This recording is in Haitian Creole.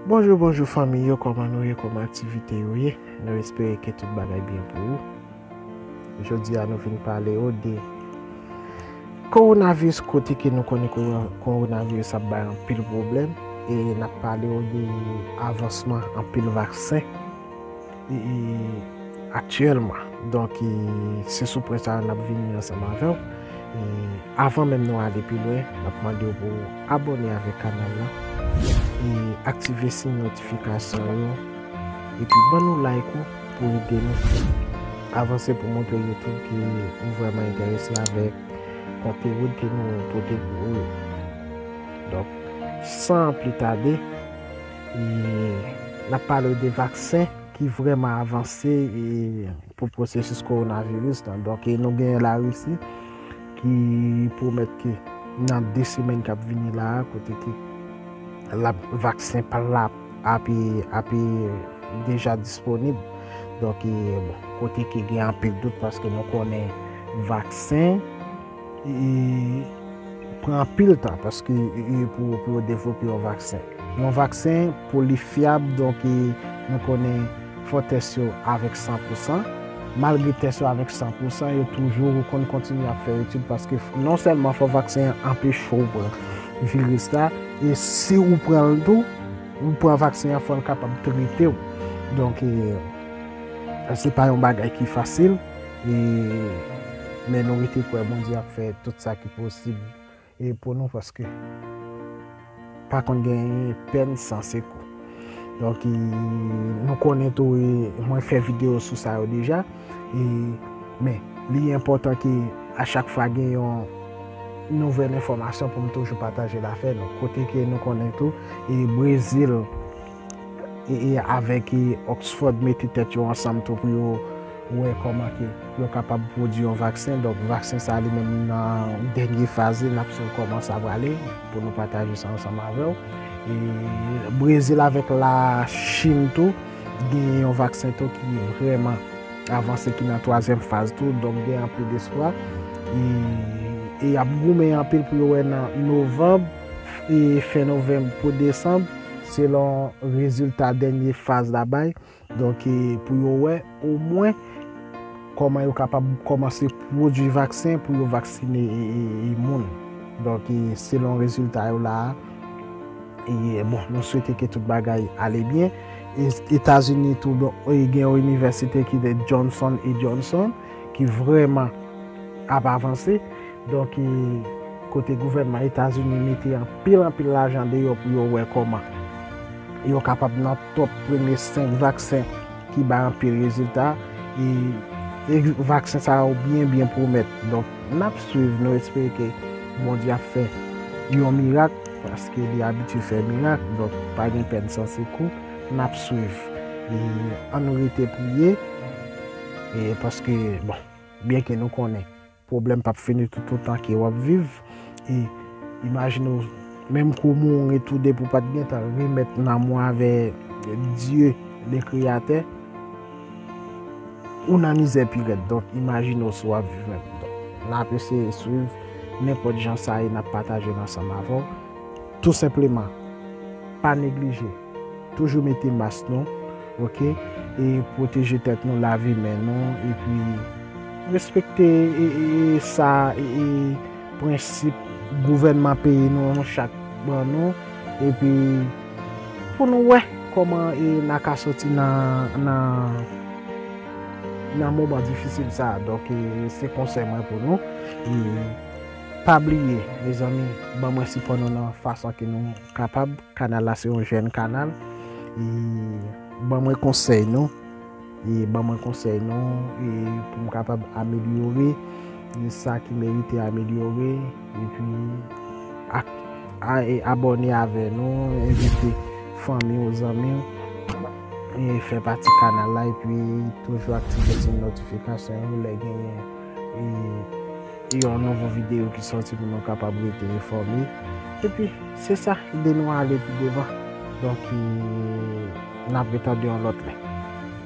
Bonjou bonjou fanmi yo kòman nou ye kòman aktivite yo ye nou espere ke tout bagay byen pou ou jodi a nou vin pale ou de kowonaviris kote ke nou konnen kowonaviris ap bay anpil pwoblèm e nap pale ou de avansman anpil vaksen Aktyèlman, donk se sou pwen sa a n ap vini ansanm avè w. Avan menm nou ale pi lwen, n ap mande w pou w abòne avèk kanal la, aktive siy notifikasyon yo, epi ban nou like ou pou ede nou avanse pou montre Youtube ke ou vrèman enterese avèk konteni ke nou pote pou ou yo. Donk, san pli tade. E n ap pale w de vaksen ki vrèman avanse pou pwosesis kowonaviris lan. Donk e nou genyen Larisi ki pwomèt ke nan 2 semèn k ap vini la a, kote ke l ap vaksen pa l ape deja disponib. Donk e bon, kote ke gen anpil dout paske nou konnen vaksen. Li pran anpil tan paske pou yo devlope yon vaksen. Yon vaksen pou li fyab donk nou konnen fò tès yo avèk 100 pou 100. Malgre tès yo avèk 100 pou 100 yo toujou konn kontinye ap fè etid paske non sèlman fò vaksen an anpeche w pran viris la e si ou pran l tou, ou pran vaksen an fò l kapab trete w. Donk se pa yon bagay ki fasil. E men nou rete kwè Bondye ap fè tout sa ki posib e pou nou paske pa konn gen pèn san sekou. Donk e nou konnen tou e mwen fè video sou sa yo deja e men li enpòtan ke a chak fwa gen yon nouvèl enfòmasyon pou m toujou pataje l afè nou. Kote ke nou konnen tou e Brezil. e avèk e Oxford mete tèt yo ansanm tou pou yo wè kòman ke yo kapab pwodui yon vaksen, donk vaksen sa li menm nan dènye faz li, nap swiv kòman sa prale pou nou pataje sa ansanm avèw. E Brezil avèk la Chine tou genyen yon vaksen tou ki vrèman avanse ki nan twazyèm faz tou, donk gen anpil espwa e yap goumen anpil pou yo wè nan novanb. e fen novanm pou desanm selon rezilta dènye faz la bay donk pou yo wè omwen kòman yo kapab kòmanse pwodui vaksen pou yo vaksine moun donk selon rezilta yo la a e bon nou swete ke tout bagay ale byen etazini tou gen yon inivèsite ki de Johnson et Johnson ki vrèman ap avanse. Donk kote gouvènman Etazini mete anpil anpil lajan deyò pou yo wè kòman yo kapab nan top premye 5 vaksen ki bay anpil rezilta e vaksen sa yo byen byen pwomèt. Donk nap swiv nou espere ke Bondye ap fè yon mirak paske li abitye fè mirak donk pa gen pèn san sekou nap swiv e an nou rete priye e paske bon byen ke nou konnen. Pwoblèm pap fini tout otan ke wap viv e imajine w menm ke w mouri tou depi w pat gentan remèt nanm ou avè Dye le kreyatè ou nan mizè pi rèd donk imajine w si wap viv menm donk nap eseye swiv nenpòt jan sa ye nap pataje l ansanm avè w tou senpleman pa neglije. Toujou mete mas nou ok e pwoteje tèt nou lave men nou epi respekte sa e prensip gouvènman peyi nou chak ban nou epi pou nou wè kòman na ka soti nan nan moman difisil sa donk se konsèy mwen pou nou e pa bliye mezanmi ban mwen sipò nou nan fason ke nou kapab. Kanal la se yon jèn kanal e ban mwen konsèy nou e ban mwen konsèy nou e pou m kapab amelyore e sa ki merite amelyore e pi ak a e abòne avè nou envite fanmi ou zanmi ou e fè pati kanal la e pi toujou aktive ti notifikasyon ou lè genyen e. Se yon nouvo video ki soti pou nou kapab rete enfòme. Epi se sa, ide nou ale pi devan. Donk, n ap retande yon lòt lè.